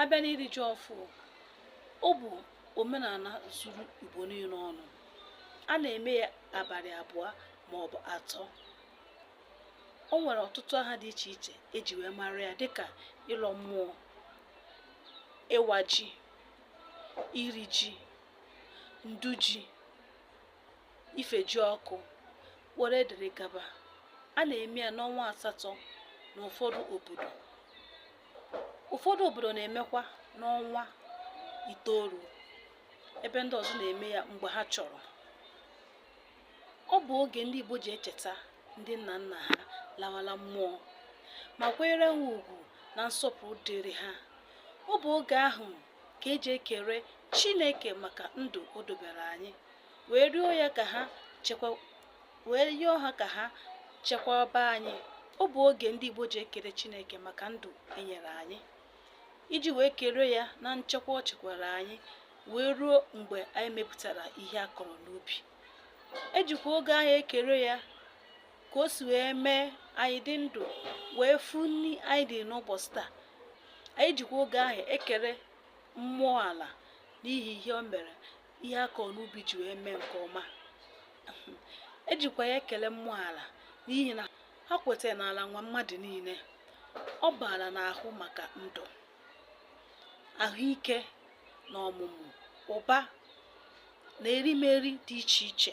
a bịa n'iri ji ọfụ ọ bụ omenala zuru Igbo niile ọnụ a na-eme ya abalị abụọ ma ọ bụ atọ o nwere ọtụtụ aha dị iche iche eji wee mara ya dịka ịlọ mmụọ ịwa ji iri ji ndu ji ifejiọkụ were dịrị gaba a na-eme ya n'ọnwa asatọ n'ụfọdụ obodo ụfọdụ obodo na-emekwa n'ọnwa itoolu ebe ndị ọzọ na-eme ya mgbe ha chọrọ ọ bụ oge ndị Igbo ji echeta ndị nna nna ha lawala mmụọ ma kwanyere ha ugwu na nsọpụrụ dịrị ha ọ bụ oge ahụ ka eji ekere Chineke maka ndụ o dobere anyị wee rịọ ya ka ha wee rịọ ha ka ha chekwaba anyị ọ bụ oge ndị Igbo ji ekele Chineke maka ndụ enyere anyị iji wee kere ya na nchekwa o chekwara anyị wee ruo mgbe anyị mepụtara ihe a kọrọ n'ubi ejikwa oge ahụ ekere ya ka o si wee mee anyị dị ndụ wee fụ nri anyị dị n'ụbọchị taa anyị jikwa oge ahụ ekere mmụọ ala n'ihi ihe o mere ihe a kọrọ n'ubi ji wee mee nke ọma ejikwa ya ekele mmụọ ala n'ihi na ha kwetara na ala nwe mmadụ niile ọ bụ ala na-ahụ maka ndụ ahụike na ọmụmụ ụba na erimeri dị iche iche